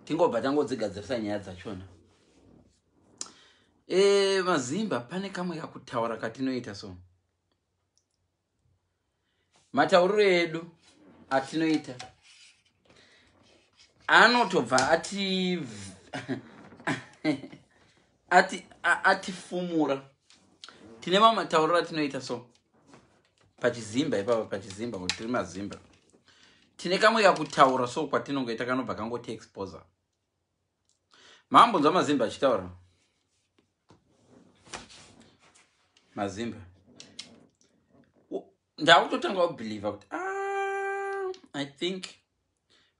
tingobva tangodzigadzirisa nyaya dzachona e, eh, mazimba pane kamwe kakutaura katinoita so matauriro edu atinoita anotobva ati ati atifumura tine mamwe matauriro atinoita so pachizimba ipapa pachizimba kuti tiri mazimba tine kamwe kakutaura so kwatinongoita kanobva kangoti exposer mambonzwa mazimba achitaura mazimba ndakutotanga kubheliva kuti ah, i think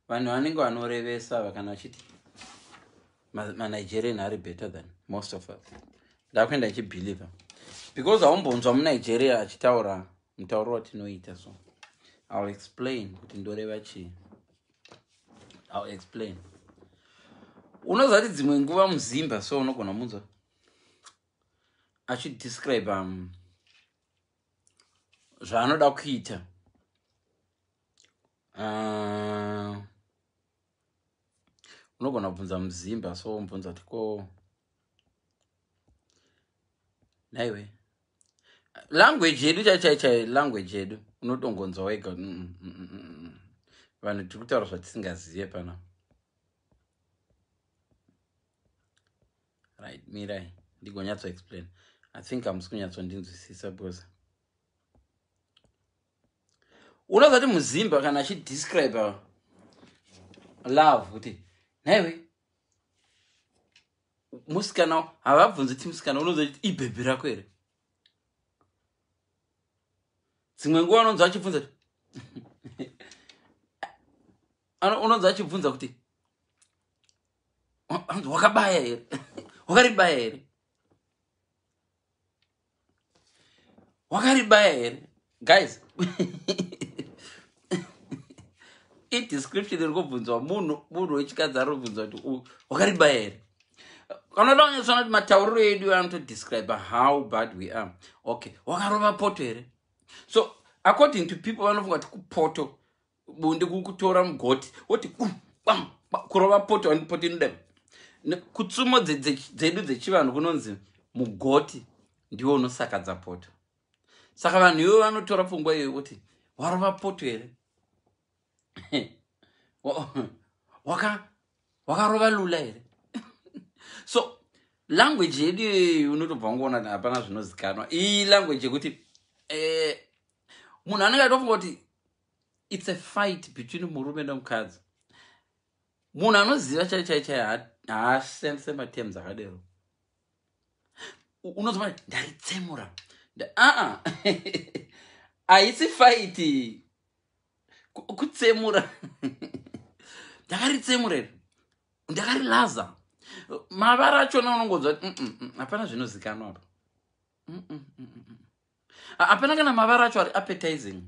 vanhu vanenge vanorevesa vakana vachiti manigerian ari better than most of us ndakuenda ichibelieve because haumbonzwa munigeria achitaura mutauro watinoita so ill explain kuti ndoreva chii ill explain unoziva kuti dzimwe nguva muzimba so unogona munzwa achidescribe um, zvaanoda kuita uh, unogona kubvunza muzimba so mubvunza kuti ko naiwe language yedu chaichaichai language yedu unotongonzwa wega mm, mm, mm, vanhu tiri kutaura zvatisingazive pana right mirai ndigonyatso explain i think amusi kunyatsondinzwisisa because unozati muzimba kana achidescribe love kuti nhaiwe musikana havabvunzi ti musikana unozati ibhebhi rako here dzimwe nguva unonzwa achibvunza ti unonzwa achibvunza kuti wakabaya here wakaribaya here wakaribaya here guys idescription iri kubvunzwa munhu munhu wechikadzi ari kubvunzwa kuti uyu wakaribaya here anoda kunyatsoona kuti matauriro edu anotodescribe how bad we are okay wakarova poto here so according to people vanofunga kuti kupoto bunde kukutora mugoti woti kurova poto and poto inoda kutsumo dzedu dzechivanhu kunonzi mugoti ndiwo unosakadza poto saka vanhu ivo vanotora pfungwa iyoyo kuti warova poto here wakarova lula here so language yedu iyoyo unotobva ngoona hapana zvinozikanwa iyi language yekuti eh, munhu anenge atofunga kuti its a fight between murume nomukadzi munhu anoziva chai chai chai haashandise matems akadero unozova ndaitsemura aa haisi faiti kutsemura ndakaritsemura iri ndakarilaza mavara achona unongonzva hapana zvinozikanwa apa hapana kana mavara acho ari appetizing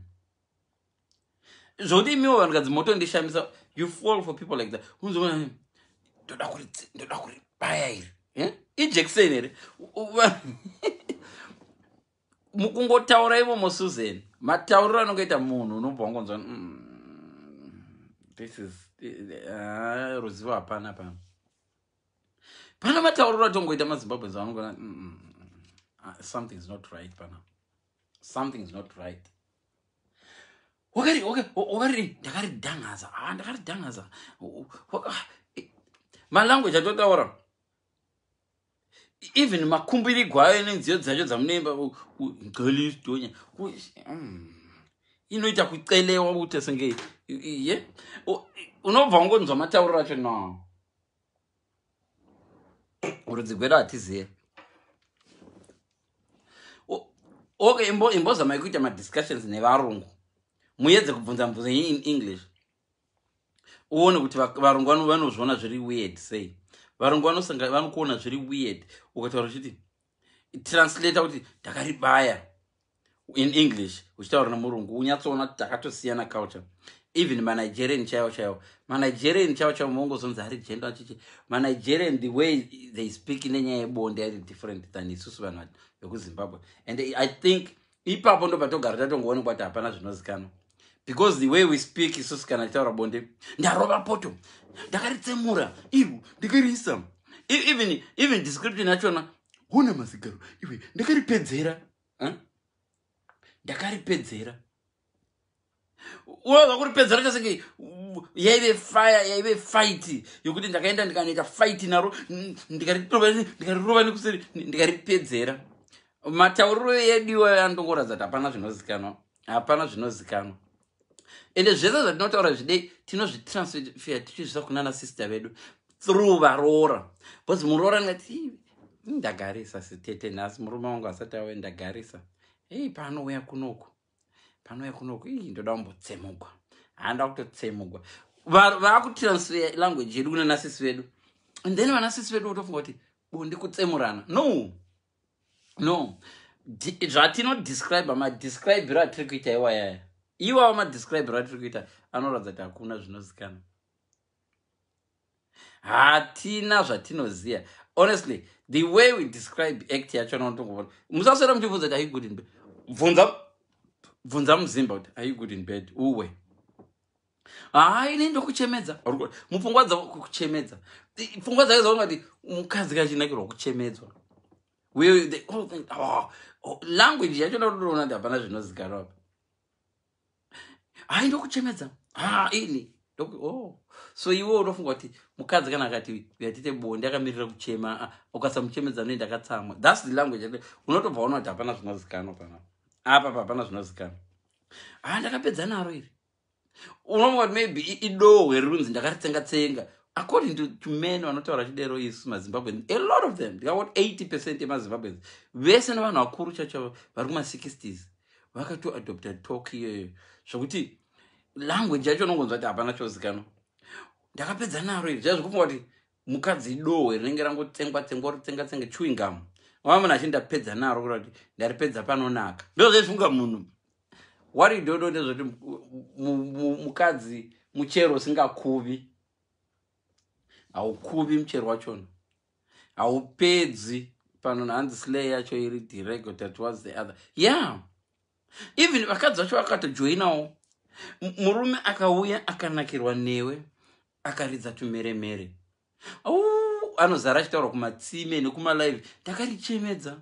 zvokuti imiwo vanhukadzi motondishamisa you fall for people like that unzona ndoda kuri ndoda kuri baya iri eh? ijection here mukungotaura imomo susan matauriro anongoita munhu unobva wangonzwa mm, this is ah, ruzivo hapana pano pana matauriro atongoita mazimbabweans vanongona mm, mm, mm, ah, something is not right pana something is not right wakarii ndakaridangaza ah, ndakaridangaza ah, malanguage atotaura even makumbirigwa ayo nenziyo dzacho dzamunoimba galistonya mm, inoita kucelewa kutesenge ye unobva ungonzwa matauriro acho no rudzi gwedu hatizive okay imbozamai kuita madiscussions nevarungu muedze kubvunza mubvunzo yenyu in english uone kuti varungu vanozviona zviri weird sei varungu vanokuona zviri weird ukataura chiti translator kuti takaribaya in english uchitaura nemurungu unyatsoona kuti takatosiyana culture even manigerian chaivo chaivo manigerian chaivo chaivo maongozonzi ari genda achichi manigerian the way they speak nenyaya yebonde ari different than isusu vanhu vekuzimbabwe and i think ipapo ndobva togara tatongoonekwa kuti hapana zvinozikanwa because the way we speak isusu kana titaura bonde ndarova poto ndakaritsemura ivo ndikariisa e-, even even description yachona hona mazigaro iwe ndakaripedzera ndakaripedzera huh? unonzwa kuri pedzero chasenge yaive faya yaive faiti yokuti ndakaenda ndikanoita faiti naro ndikarirova nekuseri ndikaripedzera matauriro edu iwayo anongoratidza kuti hapana zvinozikanwa hapana zvinozikanwa ende zvese zvatinotaura zvidei tinozvitransfea tichizvisa kunana sister vedu through varoora because muroora ndingati ndagarisa sitete nhasi murume wangu asati awe ndagarisa hei paanouya kunoko panouya kunoku ii ndoda kumbotsemugwa handa kutotsemugwa vakutiransfer language yedu kuna nasisi vedu and then vanasisi vedu votofunga kuti bondi kutsemurana no no zvatinodescribe madescribiro atiri kuita iwayaya iwawo madescribiro atiri kuita anoratidza kuti hakuna zvinozikana hatina zvatinoziva honestly the way we describe act yacho notongovona musaswera muchibvunza kuti aigudi nbe bvunza bvunza muzimba kuti are you good in bed uwe haa ini ndokuchemedza mupfungwa dzavo kuchemedza pfungwa dzake dzaona kuti mukadzi kachinakirwa kuchemedzwa ah, oh, language yacho ndotoona kuti hapana zvinozikanwa apa hai ndokuchemedza ha ini oh. so iwe unofunga kuti mukadzi kana akati yatite bonde akamirira kuchema ah, ukasamuchemedza anoenda akatsamwa thats the language unotobva ona kuti hapana zvinozikanwa pana apa pahapana zvinozikanwa ha ah, ndakapedza naro iri unofunga kuti maybe idohwe rinzi ndakaritsenga tsenga according to, to men vanotaura chidero isu mazimbabweans a lot of them ndikangoti 80 percent yemazimbabweans vese nevanhu vakuru chacho vari kuma 60s vakato adopta talk iyoyo zvekuti language yacho unongonzwa kuti hapana chozikanwa ndakapedza naro iri zviya zvekufunga kuti mukadzi dohwe rinenge rangotsengwa tsengwa rotsenga tsenge chewingam wava munhu achi ndapedza naro kuta kuti ndaripedza panonaka ndozvezvifunga munhu wari dodo ndezvekuti mukadzi muchero usingakuvi haukuvi muchero wachona haupedzi pano hanzi slay yacho iri dirego that was the other yeah even vakadzi vacho vakatojoinawo murume akauya akanakirwa newe akaridza tumeremere anozara achitaura kumatsime nekumalive ndakarichemedza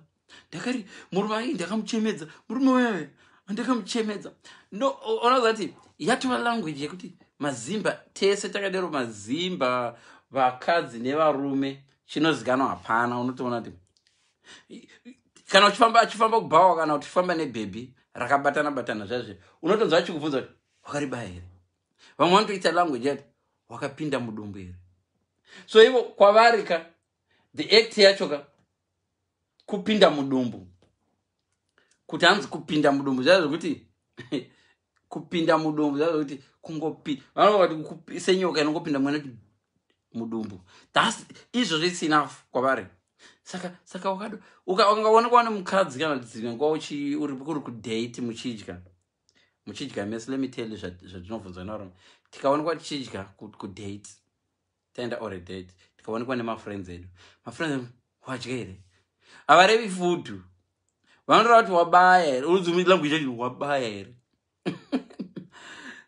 ndakari murume ai ndakamuchemedza murume wewe ndakamuchemedza no ona zati yatova language yekuti mazimba tese takadero mazimba vakadzi nevarume chinozikanwa hapana unotoona kuti kana uchifamba achifamba kubhawa kana uchifamba nebhebhi rakabatana batana zvaizve unotonzwa achikubvunza kuti wakaribaya here vamwe vanotoita language yati wakapinda mudumbu here so ivo kwavari ka the act yacho ka kupinda mudumbu kuti hanzi kupinda mudumbu zvaa zvekuti kupinda mudumbu zvaa zvekuti kungopi vanoati senyoka inongopinda mwana kuti mudumbu thus izvozvo its enough kwavari saka saka wakado ukaona kwaane mukadzi kana dzimwe nguva uchi uri kuri kudate muchidya muchidya mese let me tell you zvatinovhunzwa navaroma tikaonekwa tichidya kudate taenda or a date tikaonekwa nemafriends edu mafriends edu wadya here havarevi futu vanotora kuti wabaya here unozomii language yacho wabaya here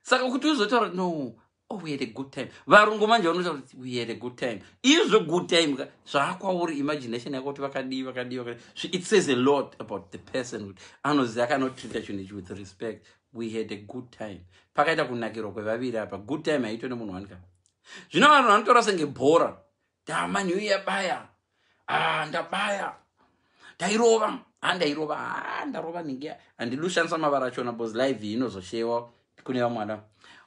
saka kuti uzotaura kuti no oh, we had a good time varungu manje vanotaura kuti we had a good time izvo good time ka zvaakwauri imagination yako kuti vakadii vakadii vakadii so it says a lot about the person kuti anoziva akanotreata chinhu ichi with respect we had a good time pakaita kunakirwa kwevaviri apa good time haitwe nemunhu wanika zvino vanhu vanotaura senge bhora dama new year baya ah, ndabaya ndairova ha ah, ndairova ha ah, ndarova nhingi handidi kushandisa mavara achona bcause live iyi inozoshewa kune vamwana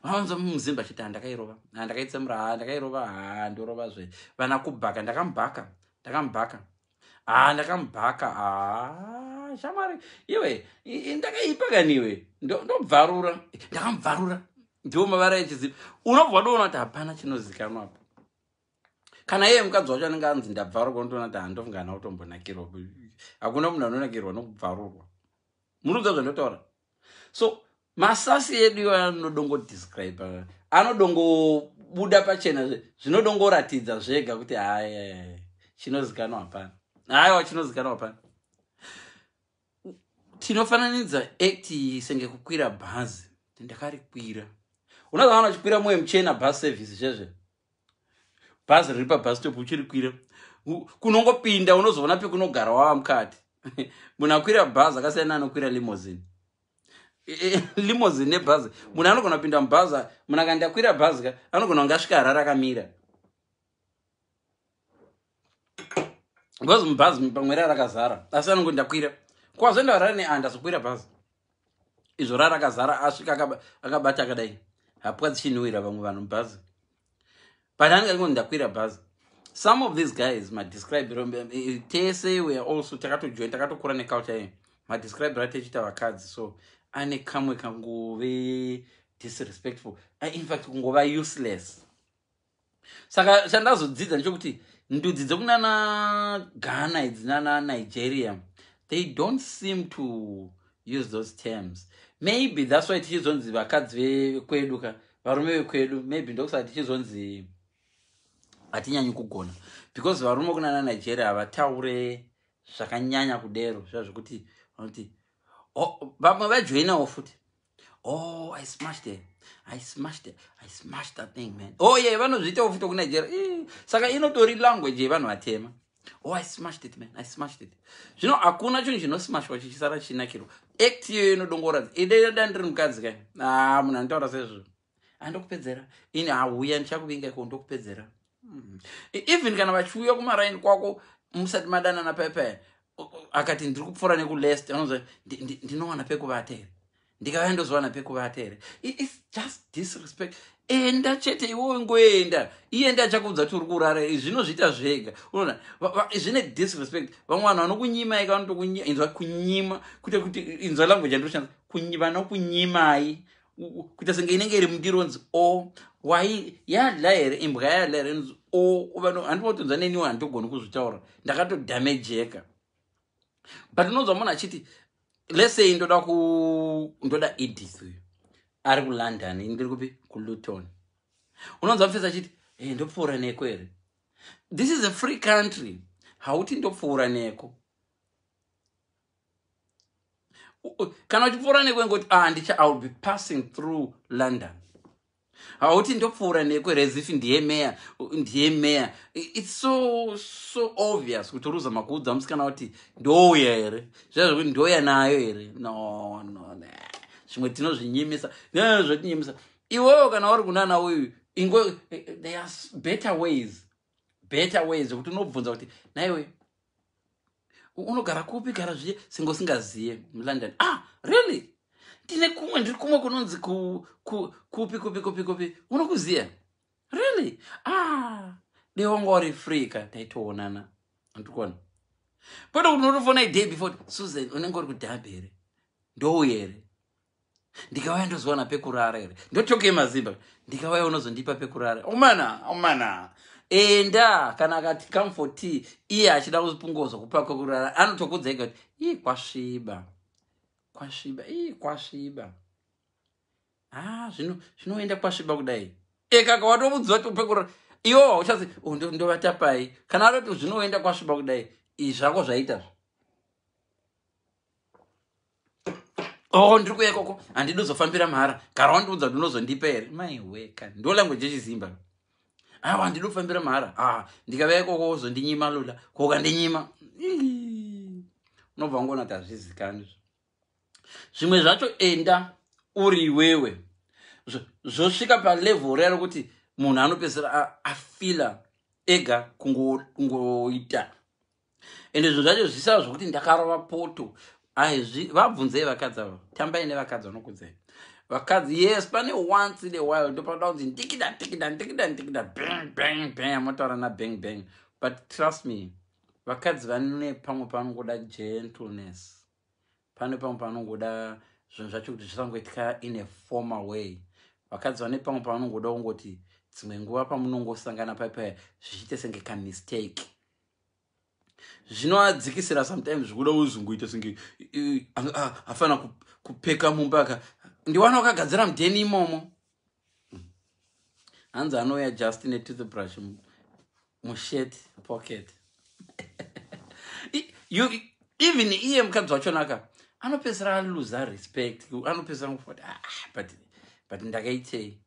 vaunza muzimba chiti handakairova ah, ndakaitsemura ha ndakairova ha ndorova zve vana kubhaka ndakamubhaka ndakamubhaka haa ndakamubhaka haa shamwari iwe ndakaipa kani iwe ndobvarura ndakamubvarura ndiwo mavara echizivi unobva wadoona kuti hapana chinozikanwa apa kana iye mukadzi wacho anenge anzi ndabvarurwa unotoona kuti handofungana kutombonakirwa hakuna munhu anonakirwa nokubvarurwa murikuziva zvandinotaura so masasi edu iwayo anodongodescribe anodongobuda pachena zvinodongoratidza zvega kuti haya chinozikanwa hapana haiwa chinozikanwa hapana tinofananidza act iyi senge kukwira bhazi ndakarikwira unozaana chikwira moyo muchena bus service zvezve bhazi riri pabhastop uchirikwira kunongopinda unozoona pekunogara wava mukati munhu akwira bhazi akasiyana anokwira limozini e, e, limozini nebhazi munhu anogona kupinda mubhazi munhu akandiakwira bhazi ka anogona kunge asvika harara akamira because mubhazi pamwe rara rakazara asi anongo ndakwira kwazvenda varara neanda sokwira bhazi izvo rara rakazara asvika akabata akadai hapwa dzichinhuwira vamwe vanhu mubhazi but anenge aringo ndakwira bhazi some of these guys madescribe eh, tese weare also takatojoin takatokura neculture ye madescribe ra techita vakadzi so ane kamwe kangove disrespectful ah, infact kungova useless saka chandazodzidza ndechokuti ndudzi dzekunana ghana idzi nana nigeria they don't seem to use those terms maybe thats why tichizonzi vakadzi vekwedu ka varume vekwedu maybe ndokusaka tichizonzi hatinyanyi kugona because varume kunana nigeria havataure zvakanyanya kudero zva zvekuti vanoti vamwe vajoinawo futi Oh, I smashed it. I smashed it. I smashed that thing, man. Oh, yeah, vanozviita ufuto kuna jera. Eh, saka inotori language yevanhu vatema. Oh, I smashed it, man. I smashed it. Zvino hakuna chinhu chinosmashwa chichisara chinakirwa. Act iyoyo inodongoradza. Ide dani riri mukadzi kai. Ah, munhu anotaura sezvo. andokupedzera ini hauya ndichakuvinga iko ndokupedzera mm. e, even kana vachiuya kumaraini kwako musati madanana paya paya akati ndiri kupfuura nekulest anoza ndinowana pekuvata here ndikauya ndozowana pekuvata here its just disrespect enda chete iwowe ngoenda iye ndi achakuudza kuti uri kurara zvino zviita zvega unoona zvine disrespect vamwe vanhu vanokunyimaika vanotokunyima inzwa kunyima kuite kuti inzwa language yandioshandisa vanokunyimai kuita senge inenge iri mundiro nzi o wai yadla here imbwa yadla here nzi o handinotonza neniwo handogoni kuzvitaura ndakatodamejeka but unonzwa munhu achiti lesey ndoda ku ndoda edith uyu ari kulondon ini ndiri kupi kuluton unonzwa mfesi achiti hey, eh, ndopfuura neko here this is a free country hauti ndopfuura neko kana uchipfuura nekwe ngoti ah, handicha ah, i will be passing through london hauti ndopfuura nekwe resif ndiye meya ndiye meya its so so obvious kuti uruza makuudza musikana kuti ndouya here zviya zvekuti ndouya nayo here no no ne zvimwe tinozvinyimisa nezvetinyimisa iwewo kana uri kunana uyu ingo eh, eh, there are better ways better way zvekuti unobvunza kuti naiwe unogara kupi gara zviye senge usingaziye mulondon ah really ndine kumwe ndiri kumwe kunonzi kupi kupi kupi kupi unokuziya really ah dei wanga wari free ka taitoonana andikuona kwete kuti unotofona idei before susan unenge uri kudhabhi here ndouye here ndikauya ndozowana pekurara here ndotokei mazimba ndikauya unozondipa pekurara omana omana enda kana akati come for tea iye achida kupungozo kupa kwekurara anotokudza ega kuti ii kwasviba kwasviba ii kwasviba ha ah, zvino zvinoenda kwasviba kudai ekaka watomudziva kuti upekurara iwo hauchasi oh, ndovatapai kana atoti zvinoenda kwasviba kudai izvi zvako zvaitazvo oh ndiri kuya ikoko handidi uzofambira mahara gara wandiudza kuti unozondipa here maiweka ndo language yechizimba awa ah, handidi kufambira mahara a ah, ndikava ikoko uzondinyima lula kokandinyima unobva wangoona kuti hazvizikani zvimwe zvacho enda uri iwewe zvosvika palevel rero kuti munhu anopedzisira afila ega kungoita ende zvinhu zvacho zvisava zvokuti ndakarova poto aizvi vabvunzei vakadzi ava tambai nevakadzi vanokudzai vakadzi yes pane once in a while ndopanoda kunzi ndikida ndikida ndikida ndikida bang bang bang amotaura nabang bang but trust me vakadzi vane pamwe panongoda gentleness pane pamwe panongoda zvinhu zvacho kuti zvisangoitika in a former way vakadzi vane pamwe panongoda kungoti dzimwe nguva pamunongosangana paipaya zvichiite senge kamistake zvinoadzikisira sometimes zvikuda uzunguita singe afana kupfeka mumba ka ndiwana wakagadzira mudheni imomo hanzi anouya just netoothbrush mushet pocket you, even iye mukadzi wachonaka anopedzisira aluza respect anopedzisira ngufoti ah, but, but ndakaitei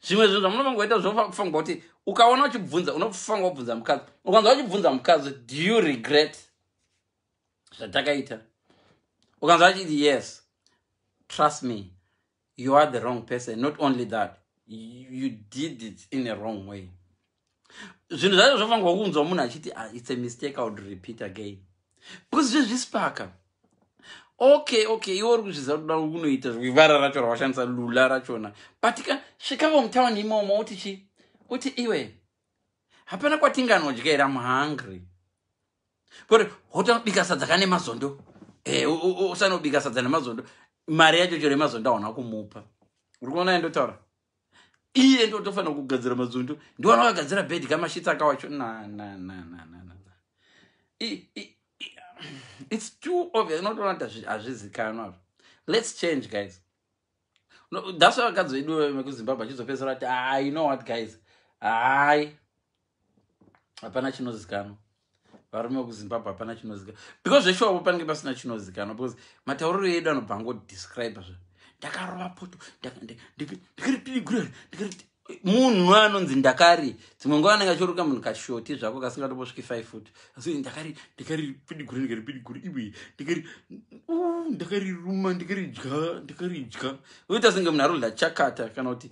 zvimwe zvinhu zvamunofangoita zvofanirwa kuti ukaona uchibvunza unofanirwa kubvunza mukadzi ukanzwa uchibvunza mukadzi do you regret zvatakaita ukanzwa achiti yes trust me you are the wrong person not only that you did it in a wrong way zvinhu zvacho zvofanirwa kunzwa munhu achiti ah, its a mistake iwould repeat again because zvezvispaka okay okay iwe uri kuzviziva kuti daro kunoita zvivara racho rawashandisa lula rachona but ka svikavo mutown imomo uti chi uti iwe hapana kwatinganodya here am hungry koti hotanobika sadza kane mazondo e, usanobika sadza nemazondo mari yacho chero yemazondo hauna kumupa uri kuona yandotaura iye ndotofanira kugadzira madzundu ndiwana wakagadzira bed kamashitsi akawacho its too obvious unotoona kuti hazvizikanwa zvo let's change guys no, that's why vakadzi vedu vekuzimbabwe achizopedzisira kuti i know what guys hai hapana chinozikanwa varume vekuzimbabwe hapana chinozikanwa because zveshuwa vo panenge pasina chinozikanwa because matauriro edu anobva angodescribe zva ndakarova poto ndikaripidigura ndikariti munhu anonzi ndakari dzimwe nguva anenge achiruka munhu kashoti zvako kasingatobosviki five foot asi ndakari ndikaripidigura ndikaripidigura iwe ndikari ndakariruma ndikaridya ndikaridya oita senge munhu arikudla chakata kana kuti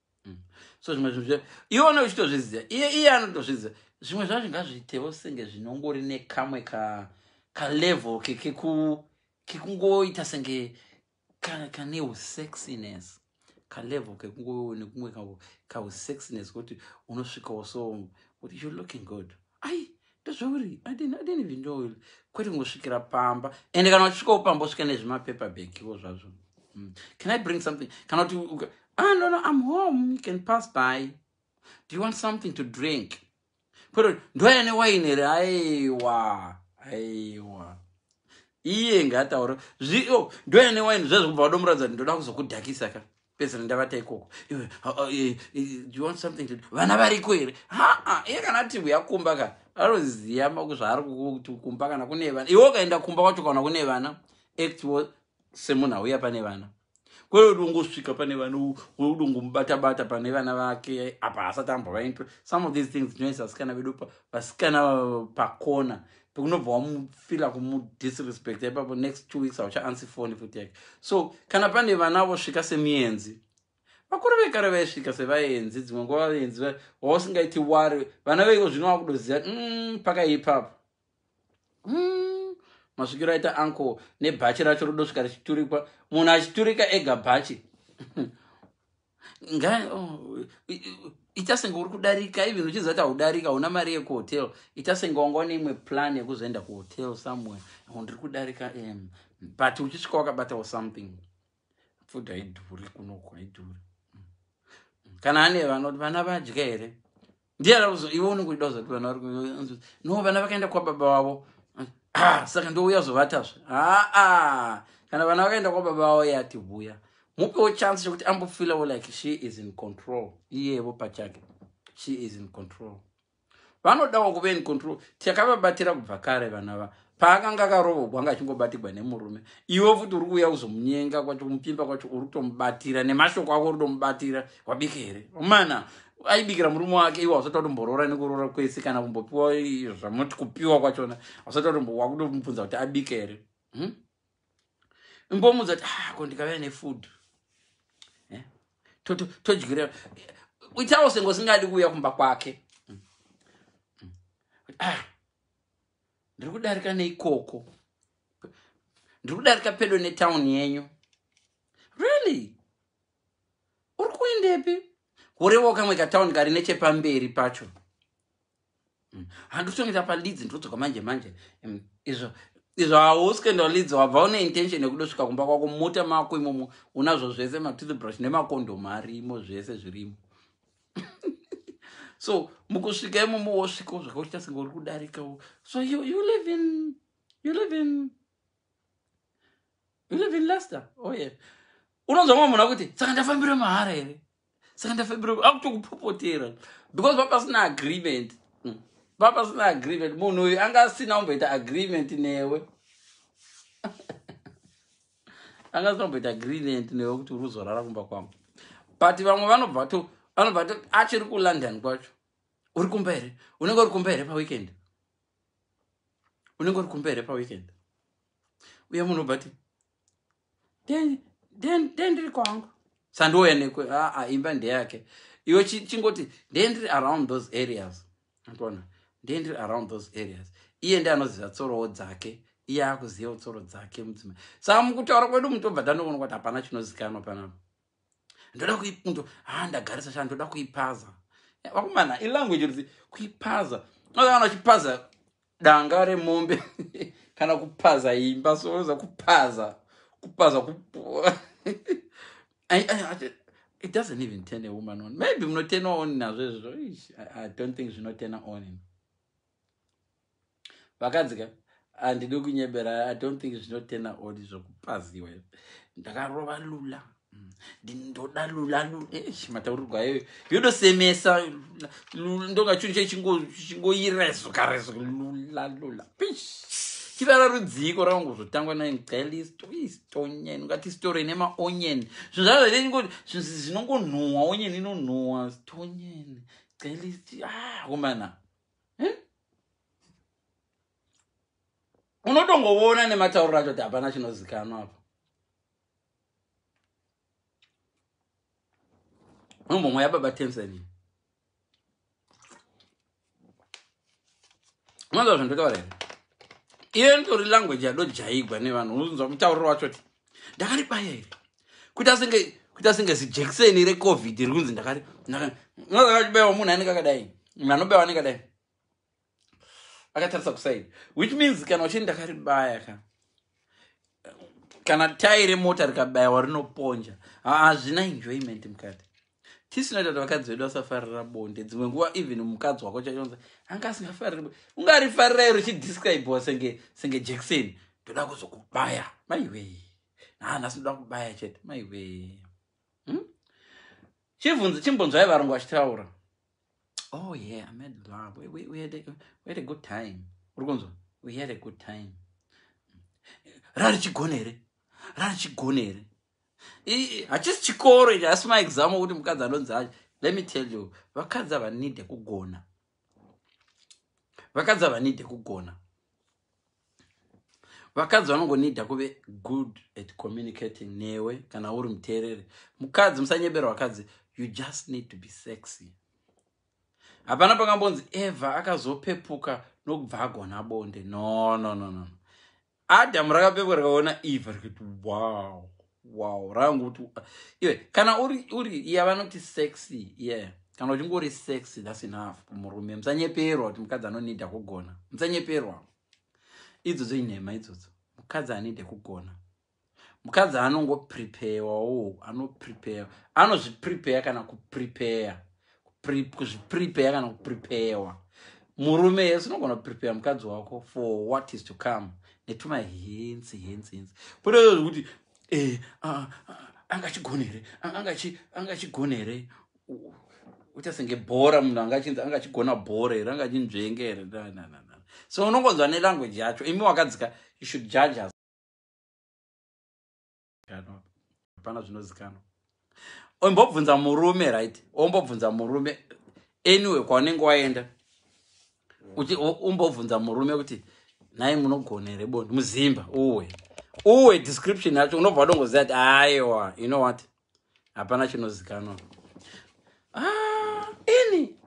mm. so zvimwe zvinhu zve iwona uchitozviziva iye iye anotozviziva zvimwe zvacho ngazviitewo senge zvinongori nekamwe ka kalevel kekungoita senge kane usexiness kalevel kekungonekumwe kausexiness kuti unosvikawo so kuti you looking good ai ndozvauri I didn't, I didn't even know you kwete kungosvikira pamba ende kana uchisvikawo pamba usvika nezvimapaper bagiwo zvazvo mm. can i bring something kana kuti uka- ah no no i'm home you can pass by do you want something to drink kwete kuti ndoya newaini here aiwa aiwa iye ngaataura zvio ndoya newaini zvezvo kubva wadomuratidza kuti ndoda kuzokudhakisa ka pedzera ndavata ikoko iwe eh, eh, you want something to vana variko here haa iye kana ati uya kumba ka anoziva maku zvaari kuti kumba kana kune vana iwe ukaenda kumba kwacho kana kune vana actwo semunhu auya pane vana kwee udongosvika pane vana udongomubatabata pane vana vake apa hasati ambovaintwe some of these things tinoisa vasikana vedu vasikana pakona pekunobva wamufila kumudisrespect ipapo next two weeks hauchaansi foni futi yake so kana pane vana vosvika semienzi vakuru vekare vaisvika sevaenzi dzimwe nguva vaenzi wausingaiti wari vana veiko zvino wakudoziva mm, pakaipapo mm, masvikiro aita uncle nebhachi racho rodosvika richiturikwa munhu achiturika ega bhachi Oh, ita senge uri kudarika even uchiziva kuti haudarika hauna mari yekuhotel ita senge wanga une imwe plan yekuzoenda kuhotel somewhere oh, ndiri kudarika um, but uchisvika wakabatawo something futi haidhuri kunoko haidhuri mm. kana ane vanoti vana vadya here ndiye rauzo iwe unenge uchida kuzati vana vari no vana vakaenda kwababa wavo ah, saka ndouya zovatazve aa ah, ah. kana vana vakaenda kwababa wavo iye ativuya mupewo chance chekuti ambofilawo like she is in control iyevo pachake she is in control vanodawo kuve in control takababatira kubva kare vana va paakanga akarovogwa anga achingobatigwa nemurume iwe futi uri kuuya kuzomunyenga kwacho kumupimba kwacho uri kutomubatira nemashoko ako uri kutomubatira wabike here mana aibikira murume wake iwe hausati watomborora nekurora kwese kana kumbopiwa zvamuti kupiwa kwachona hausati watomubvunza kuti abike here hmm? imbomudza kuti ah, ko ndikavea nefood eh? todyirira itawo sengo singadi kuuya kumba kwake hmm? Hmm? Ah, ndiri kudarika neikoko ndiri kudarika pedo netown yenyu really uri kuendepi kurevawo kamwe katown kari nechepamberi pacho mm. handikutongira palidzi ndodzoka manje manje mm, izvo izvo hausi kuenda palidzi wabva une intention yekudosvika kumba kwako mota mako imomo unazvo zvese matoothbrush nemakondomu arimo zvese zvirimo so mukusvika imomo wosvikawo zvakaita senge uri kudarikawo so you, you live in you live in you live in lester oh yeah unonzwa mwe munhu akuti saka ndafambira mahara here saka ndafambira akutokupopotera because vapasina agreement hmm. vapasina agreement munhu uyu anga asina kumboita agreement newe angazitomboita green and newe kuti uruzorara kumba kwavo but vamwe vanobva to vanobva to achiri kulondon kwacho uri kumba here unenge uri kumba here paweekend unenge uri kumba here paweekend uye munhu obva ti ndendiri kwangu sandouya nekwe aa imba ndeyake iwe chingoti ndendiri around those areas Ndona ndiye ndiri around those areas iye ndiye anoziva tsorowo dzake iye akuziva tsoro dzake mudzimai saka mukutaura kwedu mutobva tandoona kuti hapana chinozikanwa panapa ndoda kuindo ha ah, ndagarisa shaa ndoda kuipaza eh, vakomana ilanguage rudzi kuipaza unozaana uchipaza danga remombe kana kupaza imba soza kupaza kupaza it doesn't even turn a woman on maybe munotena on nazvo izvo i don't think zvinotena on vakadzi ka handidi kunyebera i don't think zvinotena on zvokupaziwa ndakarova lula ndinoda lula lula eish mataurirwo ayo yodosemesa lula ndonga chinhu chai chingo- chingoirezuka rezuka lula lula pish chivara rudziiko rakangozotangwa nayo galistoistonya inongati sitoro ine maonyen zvinhu zvayo zvine chingo- zvinhu zi- zvinongonhuhwa onyen inonhuhwa stonyen galist ah komana Eh? unotongoona nematauriro acho kuti hapana chinozikanwa apa Mambo mweya baba Tanzania. Mwanzo zvandotaura here? Iyo nditori language yadojaigwa nevanhu unonzwa mutauriro wacho ti ndakari baya here? Kuita senge kuita senge zijekiseni reCovid rikunzi ndakari ndakari. Mwanzo akabaiwa munhu anenge akadai. Munhu anobaiwa anenge akadai. akatarisa kuside which means kana uchini ndakaribaya ka kana tayi remota rikabayiwa rinoponja hazvina enjoyment mukati tisinoita kuti vakadzi vedu vasafarira bonde dzimwe nguva even mukadzi wako chaionza anga asingafariri bonde ungarifarira iro chidescribewa senge senge jackson ndoda kuzokubaya maiwee nhaana sinoda kubaya chete maiwee hmm? chibvunzi chimbonzwai varungu vachitaura Oh yeah, I made love. We, we, we, had, a, we had a good time. Urikunzwa? We had a good time. Rari chigone here? Rari chigone here? Hachisi chikoro ichi, asi maexam okuti mukadzi anonzi acho. Let me tell you, vakadzi havanide kugona. Vakadzi havanide kugona. vakadzi vanongonida kuve good at communicating newe kana uri muteereri mukadzi musanyebera vakadzi you just need to be sexy hapana pakambonzi eva akazopepuka nokubva agona bonde no no no no adamu rakapepuka rikaona eva rikati wow wow rangu kuti iwe kana uri uri iya vanoti sexy yeah kana uchinge uri sexy thats enough kumurume musanyeperwa kuti mukadzi anonida kugona musanyeperwa idzodzo inhema idzodzo mukadzi anide kugona mukadzi anongopreparewawo anoprepare anozviprepare kana kuprepare kuzviprepeya kana kuprepeyewa murume yes unogona kuprepeya mukadzi wako for what is to come netuma hensi hensi hensi kune izvo zvekuti eh, angachigona here angachigona here uita senge bhora munhu angachinzi anga achigona bhora here anga achinzvenge here so unongonzwa nelanguage yacho imi wakadzika you should judge us hapana zvinozikanwa ombobvunza murume right ombobvunza murume anyway kwaunenge waenda kuti umbobvunza murume kuti nhai munogona here boni muzimba uwe uwe description yacho unobva wadongoziva kuti aiwa you know what hapana chinozikanwa ah, ini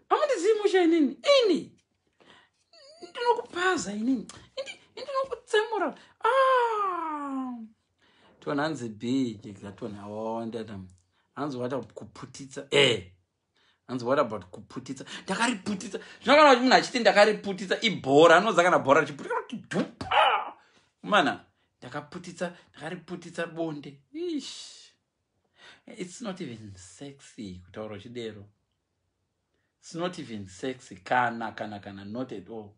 amundizivi musha inini ini ndinokupaza inini indinokutsemura ah! tona hanzi bhiji gatona awawandata hanzi wata kuputitsa e eh! hanzi what about kuputitsa ndakariputitsa zvinokana kuti munhu achiti ndakariputitsa ibhora anoza kana bhora richiputika mana ndakaputitsa ndakariputitsa bonde ish it's not even sexy kutaura uchidero It's not even sexy kana kana kana not at all.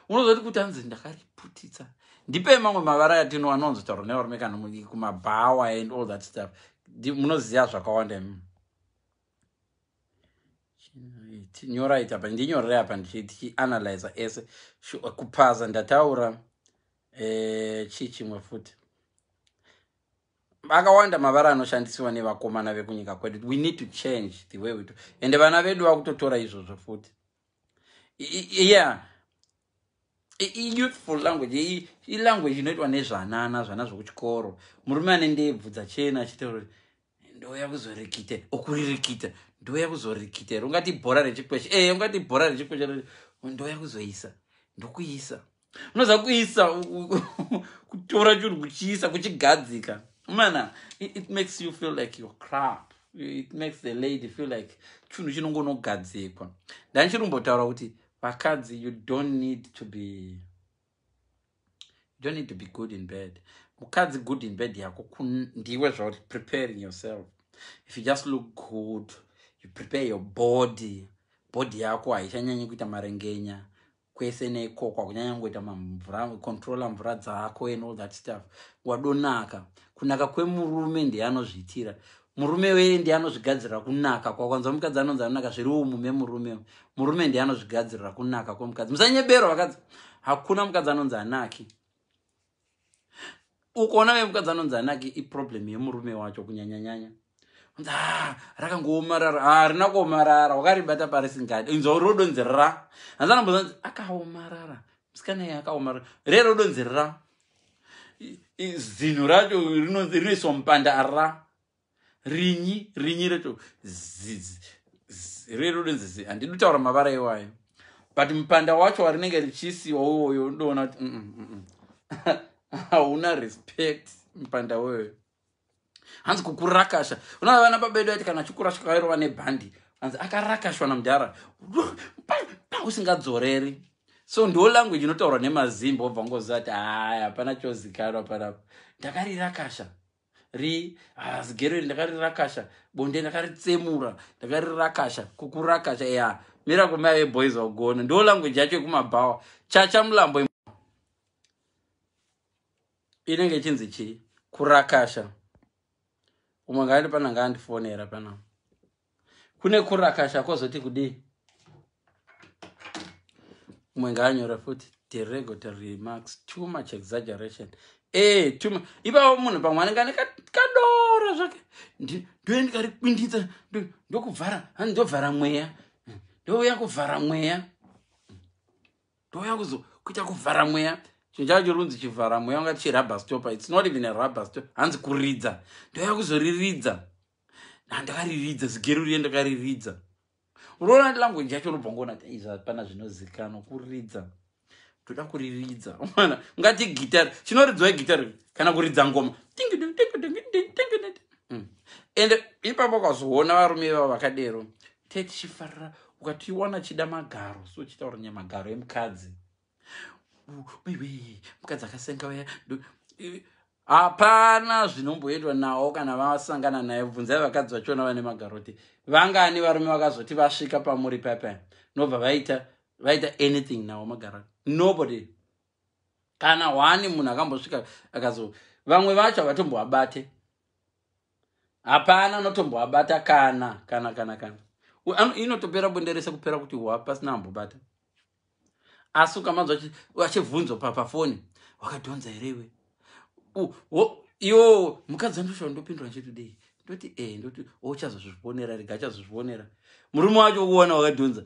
Unozoti kuti anzi ndakariputitsa. Ndipe mamwe mavara yatino anonzi tauro nevarume kana kumabhawa and all that stuff. Munoziva zvakawanda imi. Nyora ita pa ndinyorere apa ndichiti analyze ese kupaza ndataura eh chichimwe futi. akawanda mavara anoshandisiwa nevakomana vekunyika kwedu we need to change the way we do ende vana vedu vakutotora izvozvo futi yeah iyouthful language ilanguage inoitwa nezvanana zvana zvokuchikoro murume ane ndebvu dzachena achitaura ndouya kuzorikita okuririkita ndouya kuzorikita here ungati bhora rechikweshe ee eh, ungati bhora rechikweshe ndouya kuzoisa ndokuisa unoziva kuisa kutora chinhu kuchiisa kuchigadzika mana it, it makes you feel like you're crap it makes the lady feel like chinhu chinongonogadzikwa ndandichirimbotaura kuti vakadzi you don't need to be you don't need to be good in bed mukadzi good in bed yako ndiwe zvauri preparing yourself if you just look good you prepare your body body yako haichanyanyi kuita marengenya kwese nekokwa kunyanya kungoita mamvura controller mvura dzako and all that stuff wadonaka kunaka kwemurume ndiye anozviitira murume wee ndiye anozvigadzirira kunaka kwakwanzwa mukadzi anonzi anonaka zviri umu memurume murume ndiye anozvigadzirira kunaka kwemukadzi musanyeberwa vakadzi hakuna mukadzi anonzi anaki ukaona vemukadzi anonzi anake iproblem yemurume wacho kunyanyanyanya nzi ah, rakangoomarara harina ah, kuomarara wakaribata parisingadi inzwa uri rodonzi ra hanzi anambozanzi akaomarara musikana iye akaomarara re rodonzi ra zinhu racho rinoiswa mupanda ra rinyi rinyi reto rero rinzizi handidi kutaura mavara iwayo but mupanda wacho warinenge richisiwa uwoyo ndoona kuti mm, mm, mm, hauna respect mupanda weyo hanzi kukurakasha unoa vana babedu aiti kana achikurashwa kairova nebhandi hanzi akarakashwa namudhara usingadzoreri so ndo language inotaurwa nemazimba obva ngoziva kuti haya hapana chozikanwa panapa ndakarirakasha ri hazi gero iri ndakarirakasha bonde ndakaritsemura ndakarirakasha kukurakasha ya mira kome ave boys vagona ndo language yacho yekumabhawa chacha mulambo inenge ichinzi chii kurakasha umwe ngaandi pana ngaandifonera panapa kune kurakasha kwozoti kudii umwe ngaanyora futi deregotory remarks too much exaggeration ee eh, tuma ipapo munhu pamwe anenge ane kadoro zvake ndoe ndikari kwindidza ndokuvhara hani ndovhara mweya ndouya kuvhara mweya ndouya kuzo kuita kuvhara mweya chinhu chavo chirunzi chivhara mweya ungati chirubber stoper its not even a rubber stoper hanzi kuridza ndouya kuzoriridza ndakariridza zigero riye ndakariridza unoona language yacho unobva ngoona kuti izvi hapana zvinozikanwa kuridza toda kuriridza ona ungati gitari chinoridzwa igitari kana kuridza ngoma hmm. ende ipapo ukazoona varume ivavo vakadero tetichifarira ukatiwana chida magaro so chitaura nyamagaro emukadzi waiwei mukadzi akasenga waya hapana zvinomboitwa nawo kana vasangana naye bvunzai vakadzi vachiona vane magaroti vangani varume vakazoti vasvika pamuri pepe nobva vaita vaita anything nawo magaroti nobody kana hwani munhu akambosvika akazo vamwe vacho havatombovabate hapana anotombovabata kana kana kana kana inotopera bonde rese kupera kuti hwa pasina ambobata asi ukamanzwa achibvunzwa papafoni wakadhonza here iwe yo mukadzi andoshaa ndopindura nchitudei ndoti e eh, ndoti ochazozvionera rega achazozvionera murume wacho ukuona wakadhonza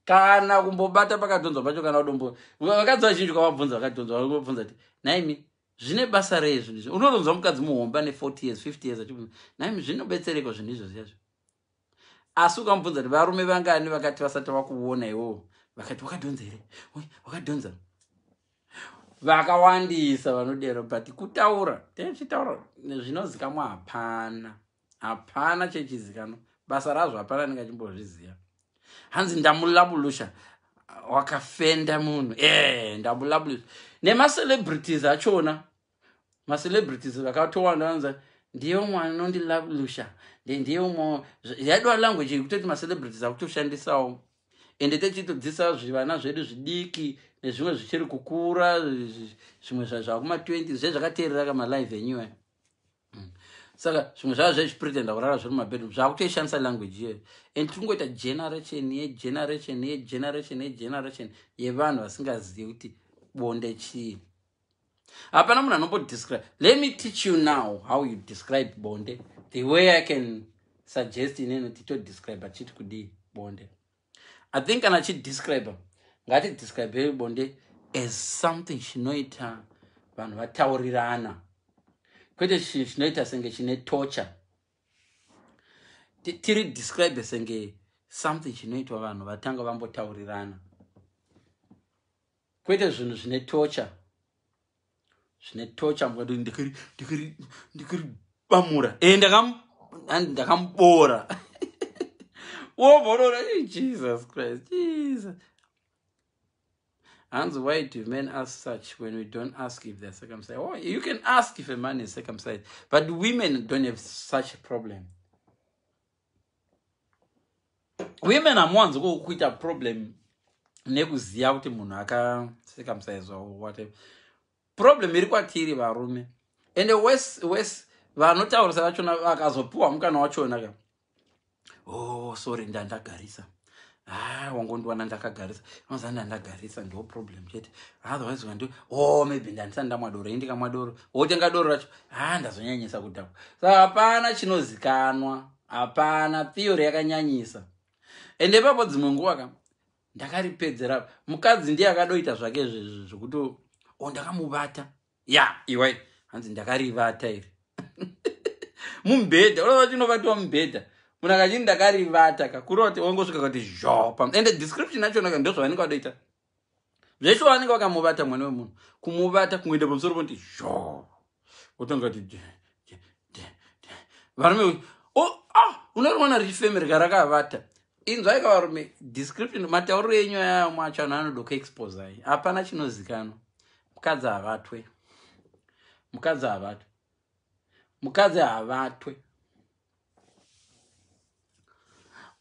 kana kumbobata pakadhonzwa pacho kana udombo vakadzi vazhinji kwavabvunza vakadhonzwa vakubvunza ti naimi zvine basa rei zvinhu izvi unotonzwa mukadzi muhomba ne 40 years 50 years achibvunza naimi zvinobetsereko zvinhu izvozvi yazvo asi ukamubvunza kuti varume vangani vakati vasati vakuona iwowo vakati wakadhonza here wakadhonza vakawandisa vanodero but kutaura tezvitaura zvinozikamwa hapana hapana chechizikanwa basa razvo hapana anenge achimbozviziva hanzi ndamulabulusha wakafenda munhu e eh, ndamulabulusha nemacelebrities achona ma celebrities vakatowanda vanza ndiye umwe anondi lalusha ndiye umwe yaidiwa language yekutoti ma celebrities akutoshandisawo ende techitodzisa zvivana zvedu zvidiki nezvimwe zvichiri kukura zvimwe zvakuma 20 zve zvakateerera kama live enyuwe mm. saka zvimwe zvava zvezvipretenda kurara zviri mumabedroom zvakutoishandisa language iyoyo and tiri kungoita generation yegeneration yegeneration yegeneration yevanhu vasingazivi kuti bonde chii hapana munhu anombodescribe let me teach you now how you describe bonde the way i can suggest ineno titodescribe achiti kudii bonde i think kana achidescribe ngatidescribe bonde as something chinoita vanhu vataurirana kwete chinhu chinoita senge chine torture tiri describe senge something chinoitwa vanhu vatanga vambotaurirana Kwete zvinhu zvine tocha. Zvine tocha mukati ndikiri ndikiri ndikiri bamura. Eh ndakam ndakambora. Woborora eh, Jesus Christ. Jesus. Hands why do men ask such when we don't ask if they're circumcised? Oh, you can ask if a man is circumcised, but women don't have such a problem. women hamuwanzi kuita problem nekuziva kuti munhu akaseka musaizwa whatever problem iri kwatiri varume and wes wes vanotaurisa vachona vakazopiwa mukana wachona ka oh sorry ndandagarisa haa ah, wangondiwana ndakagarisa inoza ndandagarisa ndo problem chete otherwise ukandiwa o oh, maybe ndandisani ndamwa doro indi kamwa doro wotenga doro racho haa ah, ndazonyanyisa kudhakwa sa hapana chinozikanwa hapana theory yakanyanyisa ende ipapo dzimwe nguva ka ndakaripedzera mukadzi ndiye akadoita zvake zvezvi zvekuti o oh, ndakamubata ya iwai hanzi ndakarivata iri mubhedha unoa vati unovatiwa mubhedha munhu akachii ndakarivata kakurova kuti wangosvika kuti zhopa ende description yachonaka ndo zvavanenge vadoita zveshuwa vanenge vakamuvata mwana wemunhu kumuvata kungoenda pamusoro ponti zho wotonga kuti varume oh, ah, unorimwana richifemere karakavata inzwai ka varume description matauriro enyu aya amwe acho anhu anoda kuexposai hapana chinozikanwa mukadzi havatwe mukadzi havatwe mukadzi havatwe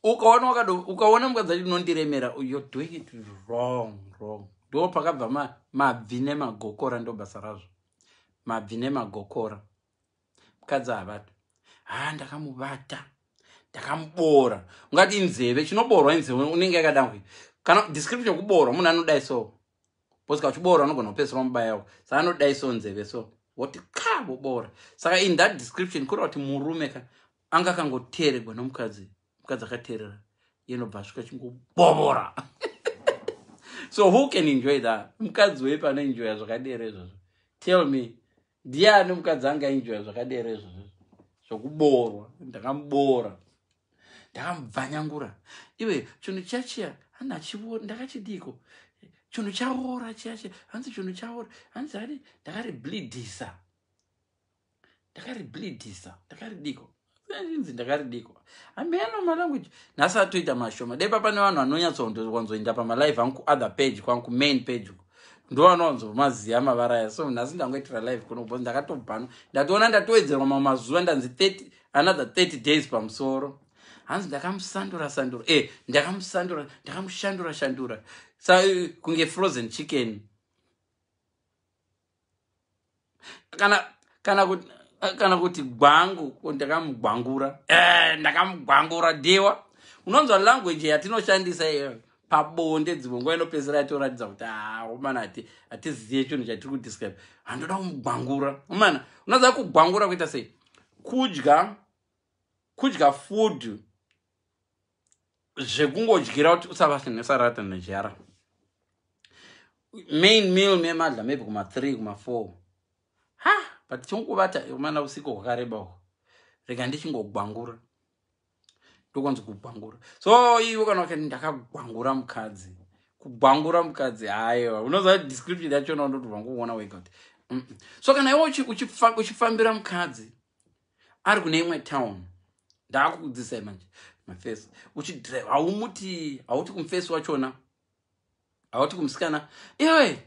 ukaona wakado ukaona mukadzi acho unondiremera you're doing it wrong wrong ndo pakabva mabvi nemagokora ndo basa razvo mabvi nemagokora mukadzi havada haa ah, ndakamubata ndakamuboora ungati inzeve chinoboorwa inzeve unenge yakada kuita kana description yekuboorwa munhu anodai so bcause kauchiboora unogona kupesera wamubayawo saka anodai so nzeve so woti ka voboora saka in that description kureva kuti murume ka anga akangoteeregwa nomukadzi mukadzi akateerera inobva asvika chingobovora so who can enjoy that mukadzi wepi anoenjoya zvakadera izvozvo tell me ndiani mukadzi anga enjoya zvakadero izvozvo zvokuboorwa ndakamuboora ndakamubvanyangura iwe chinhu chachiya handi achiona ndakachidiiko chinhu chaora chiyachiya hanzi chinhu chaora hanzi hadi ndakariblidhisa ndakariblidhisa ndakaridiiko inzi ndakaridiiko hameno malanguage nhasi atoita mashoma dai papa nevanhu vanonyatsowanzoenda pamalive angu kuother page kwangu kumain page uko ndovanowanzomaziva mavara aya so nhasi ndangoitira live kuno bcause ndakatobhanwa ndatoona ndatowedzerwa mamwe mazuva ndanzi 30 another 30 days pamusoro hanzi ndakamusandura sandura e eh, ndakamusandura ndakamushandura shandura sa eh, kunge frozen chicken kana kana kuti kana kuti gwangu ndakamugwangura eh, ndakamugwangura diwa unonzwa language yatinoshandisa iyo pabonde dzimwe nguva inopedzera yatoratidza kuti aomana ah, hatiziye chinhu chatiri kudescribe handoda kumugwangura omana unoziva kugwangura kuita sei kudya kudya food zvekungodyira kuti usavase nesarata nejara main meal memadla maybe kuma three kuma four ha but chonguvata umana usiku hwakareba uko rega ndichingogwangura ndokonzi kugwangura so iwe kana ukati ndakagwangura mukadzi kugwangura mukadzi haiwa unoziva description yachona undotovangouona wega kuti so kana iwe uchifambira mukadzi ari kune imwe town ndaakukudzisai manje mafesi uchidrive haumuti hauti kumufesi wachona hauti kumusikana iwe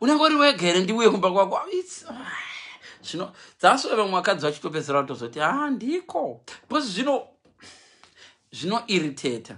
unenge uri wega here ndiuye kumba kwako ah, zvino dzasove vamwe vakadzi vachitopedzera kutozoti ha ah, ndiko because zvino zvinoiriteta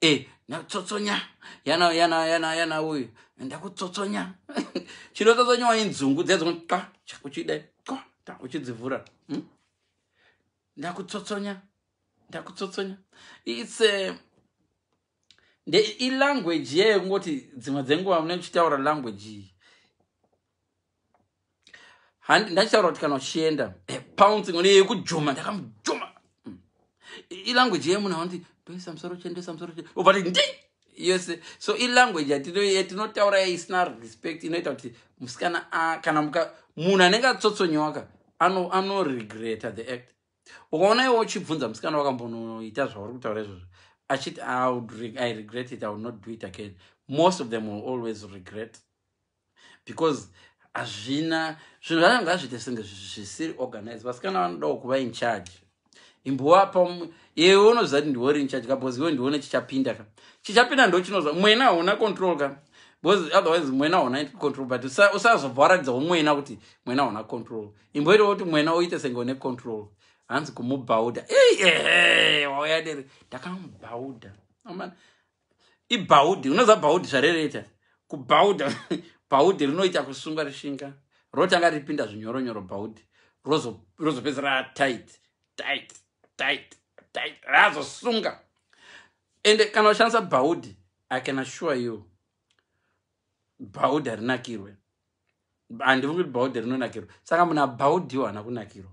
e eh, nakutsotsonya yana yana yana yana uyu ndakutsotsonya chinotsotsonya wainzungu dzedzonqa chakuchida qa ta uchidzivhura hmm? ndakutsotsonya ndakutsotsonya its eh, nde ilanguage yeyo kungoti dzimwe dzenguva mune kuchitaura language iyi handi ndachitaura kuti kana uchienda eh, pouncing one yekujoma ndakamujoma mm. ilanguage yemunhu aonti toisa musoro chendesa musoro obva ti ndi yose so ilanguage yatinotaura yaisina respect inoita kuti musikana kana munhu anenge atsotsonyoka anoregreta the act ukaona iwo uchibvunza musikana wakambonoita zvauri kutaura izvozvo achiti i regret it i will not do it again most of them will always regret because hazvina zvinhu zvacho ngazviite senge zvisiri organize vasikana vanodawo kuva in charge imbovapa iwe unoziva kuti ndiwori in charge ka bcause iwe ndione chichapinda ka chichapinda ndo chinoziva mwena hauna control ka bcause otherwise mwena hauna control but usazobva waratidzawo mwena kuti mwena hauna control imboitawo kuti mwena uite senge une control hanzi kumubhauda ehe wauya dere ndakamubhauda ibhaudhi unoziva bhaudhi zvarereita kubhaudha bhaudhi rinoita kusunga rishinga rotanga ripinda zvinyoronyoro bhaudhi rozopedza ratit tit tit tit razosunga ende kana ushandisa bhaudhi i can assure you bhaudhi harinakirwe handifungi kuti bhaudhi rinonakirwa saka munhu abhaudhiwo haana kunakirwa